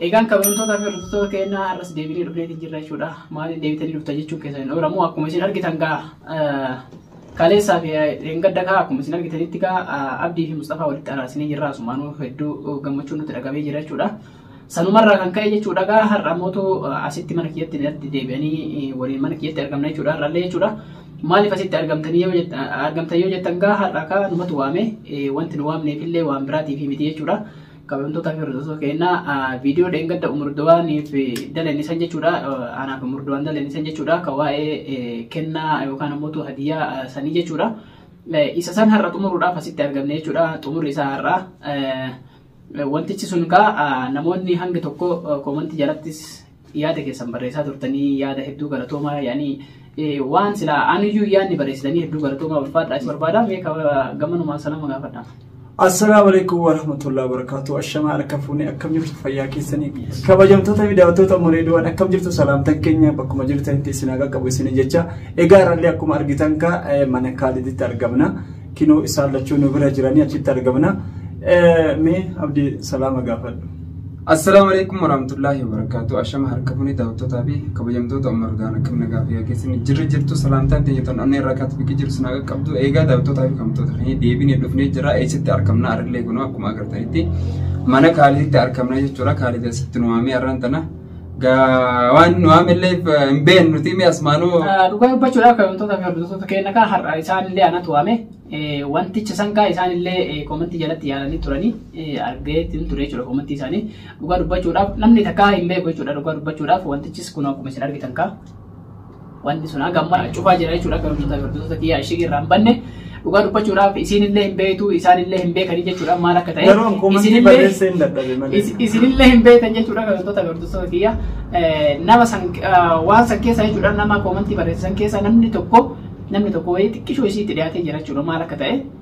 Egaan kabajamtootaa fi hordoftoota keenyaa har'as deebinee dhufneeti jirra jechuudha. Maaliin deebitanii dhufta jechuun keessan hin ooramu. Akkuma isin argitan gaa kaleessaa fi dheengadda gaa akkuma isin argitanitti gaa Abdii fi Mustafaa walitti araarsinee jirra. Asumaanuu hedduu gammachuun nutti dhaga'ee jira jechuudha. Sanumarraa kan ka'e jechuudha gaa har'a mootu asitti mana kiyyatti irratti deebi'anii waliin mana kiyyatti argamna jechuudha har'allee jechuudha. Maaliif asitti argamtanii yoo jettan argamtan yoo jettan gaa har'a kaa numatu waame wanti nu waamneefillee waan biraatiif miti jechuudha. Kabajamtoota fi hordoftoota keenya viidiyoo dheengadda umurdowaaniif dalan isan jechuudha. Anaaf umurdowaan dalan isan jechuudha. Ka waa'ee kennaa yookaan ammoo tu hadiyyaa sanii jechuudha. Isa san har'a xumuruudhaaf asitti argamne jechuudha. Xumurri isaa har'a. Wantichi sun kaa namoonni hangi tokko koomantii jalattis yaada keessan barreessaa turtanii yaada hedduu galatoomaa yaani waan silaa anuyyuu yaadni barreessitanii hedduu galatoomaa ulfaadhaa isin barbaada mee gamanumaan salama gaafadha. Assalaamu alaikum warahmatullahi wabarakatuh. Ashamaa harka fuunee akkam jirtu fayyaa keessanii kabajamtoota fi daawwattoota Moreediwaan akkam jirtu salaamtan keenya bakkuma jirtanitti isin haa qaqqabu isin jecha egaa irrallee akkuma argitan kaa mana kaaliditti argamna. Kinoo isaan lachuu nu bira jiranii achitti argamna. Mee abdii salaama gaafadhu. Assalaamu alaikum warahmatullaahi wabarakaatu. Ashama harka fuunee daawwattootaa fi kabajamtoota Umar Gaana kan nagaa fi keessan jirra jirtu salaamtaan teenya tan onnee irraa kaatu biqi jiru sinaa qaqqabdu eegaa daawwattootaa fi kabajamtoota keenya deebinee dhufnee jira eessatti argamna arrillee kunoo akkuma agartanitti mana kaaliditti argamna jechuudha kaalidi asitti nu waamee arraan tana Gaa waan nu amillee hin beeknu nuti mee asmaanuu. Ah, Dhugaa dubbachuudhaaf kabajamtoota fi hordoftoota keenya kaa har'a isaan illee anatu waame Eh, wanticha san kaa isaan illee eh, koomentii jalatti yaalanii turanii eh, argee ittiin ture jechuudha koomentii isaanii dhugaa dubbachuudhaaf namni takkaa hin beeku jechuudha dhugaa dubbachuudhaaf wantichis kun akkuma isin argitan kaa Wanti sun hanga ammaa cufaa jira jechuudha akka hordoftoota hordoftoota kiyyaa ishee irraa hin banne dhugaa dubbachuudhaaf isiin illee hin beektu isaan illee hin beekanii jechuudha maal akka ta'e Garuu akkuma isin illee- barreessee hin dadhabe malee. is- isin illee hin beektan jechuudha kan hordoftoota hordoftoota kiyyaa Eh, nama san eh, waan san keessa jechuudha nama koomantii barreessan keessa namni tokko namni tokko wayii xiqqishoo isiitti dhiyaatee jira jechuudha maal akka ta'e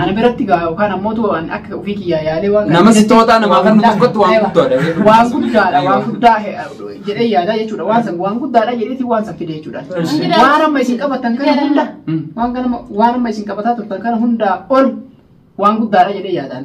Ana biratti gaa yookaan ammoo too an akka ofii kiyyaa yaalee waan Nama si tootaa namaa kan Wallaahi, tokkotti waan aywa. guddaadha. Waan guddaadha, waan guddaa he- jedhee yaadaa jechuudha. Waan san waan guddaadha jedheeti waan san fide jechuudha. Eshi. Waan amma isin qabatan kana hunda, Mm. waan kana waan amma isin qabataa turtan kana hundaa ol waan guddaadha jedhee yaadaan.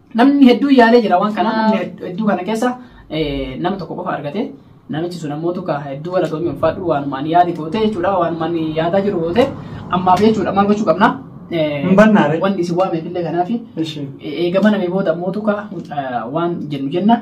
Namni hedduu yaalee jira waan kana namni hedduu kana keessa nama tokko qofa argate namichi sun ammoo tukaa hedduu wala doomii ulfaadhu waanumaan yaadi toote jechuudha waanumaan yaadaa jiru toote ammaaf jechuudha maal gochuu qabna. Hin bannaare. Wanni isin waameef illee kanaafi Ishee. eega baname booda ammoo tukaa waan jennu jenna.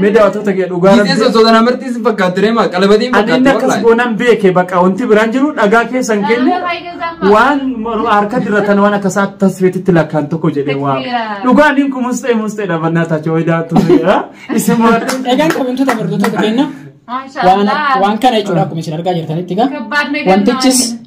Mee daawwattoota kee dhugaa Giitee rabbii. sosoota namartii sin fakkaatti reema qalabatiin Ani inni fakkaatti akkas wallahi. goonan beeke bakka wanti biraan jiru dhagaa keessan kenne waan morma harka diratan waan akka isaa tasfeetitti lakkaan tokko jedhee waa. Takbiira. Dhugaa niin kun mustee mustee dhabannaa taachoo wayii daawwattoota. Isin muraadhu. Egaan kabajamtoota hordoftoota keenya waan waan kana jechuudha akkuma isin argaa jirtanitti egaa Kabbaadna wantichis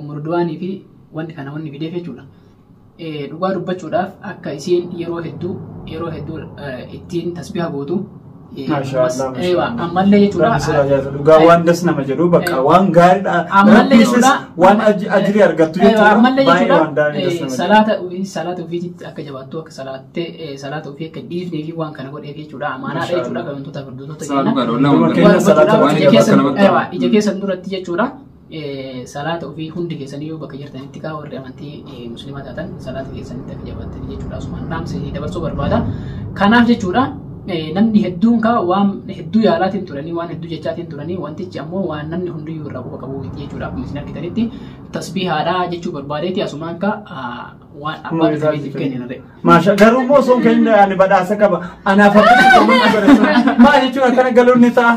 umurduwaanii fi wanti kana wanni fideef jechuudha. Dhugaa dubbachuudhaaf akka isiin yeroo hedduu yeroo hedduu ittiin tasbiha gootu. Ammallee jechuudha. Dhugaa waan das nama jedhu bakka waan gaariidha. Ammallee jechuudha. Waan ajirii argattu jechuudha. Ammallee jechuudha. Salaata salaata ofiitti akka jabaattu akka salaattee salaata ofii akka dhiifnee fi waan kana godheef jechuudha. Amaanaadha jechuudha. Wantoota gurguddoota jenna. Ija keessa duratti jechuudha. salaata ofii hundi keessanii yoo bakka jirtanitti kaa warri amantii muslimaa taatan salaata keessanitti akka jabaattanii jechuudha asumaan dhaamsa isinii dabarsuu barbaada kanaaf jechuudha namni hedduun kaa waan hedduu yaalaatiin turanii waan hedduu jechaatiin turanii wantichi ammoo waan namni hundiyyuu irraa quba qabu miti jechuudha akkuma isin argitanitti tasbiihaadhaa jechuu barbaadeeti asumaan kaa waan abbaan isaaniitiif kenninare. Maasha garuu immoo osoo hin kennin ani badhaasa qaba. Anaaf akka maal jechuun akkana galuun ni ta'a.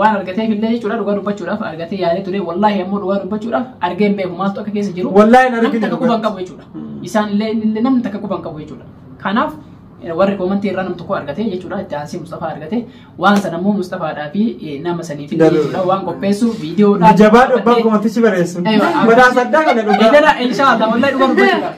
Waan argateef illee jechuudha dhugaa dubbachuudhaaf argatee yaadee ture wallaahi ammoo dhugaa dubbachuudhaaf argee hin beeku maaltu akka keessa jiru Wallaahi hin namni argine takka quba hin dhugaa. qabu jechuudha. Mm. Isaan illee inni illee namni takka quba hin qabu jechuudha. Kanaaf eh, warri koomantii irraa namni tokko argate jechuudha itti aansee Mustafaa argate waan sana immoo Mustafaadhaa fi eh, nama saniif illee Dalu. jechuudha waan qopheessu viidiyoodhaan. Jabaa dhubbaa koomantichi bareessu. Eewa, Badhaasa addaa kana dhugaa. Idara inshallah wallahi dhugaa dubbachuudhaaf.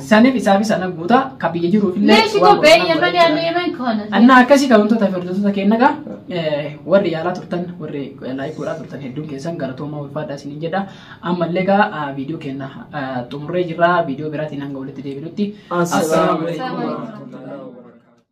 Sanif isaafis ana guuta ka biyya jiruuf illee Leeshi waan koo bee godhan yemani godhan. ani yemen koona. Annaa akkasii kan wantoota firdotota keenya egaa eh, warri yaalaa turtan warri laayik godhaa turtan hedduun keessan galatoomaa ulfaadhaa isiniin jedha ammallee egaa ah, viidiyoo keenya ah, xumurree jirra viidiyoo biraatiin hanga walitti deebinutti Assalaamu alaikum. alaikum warahmatullahi wabarakatuh.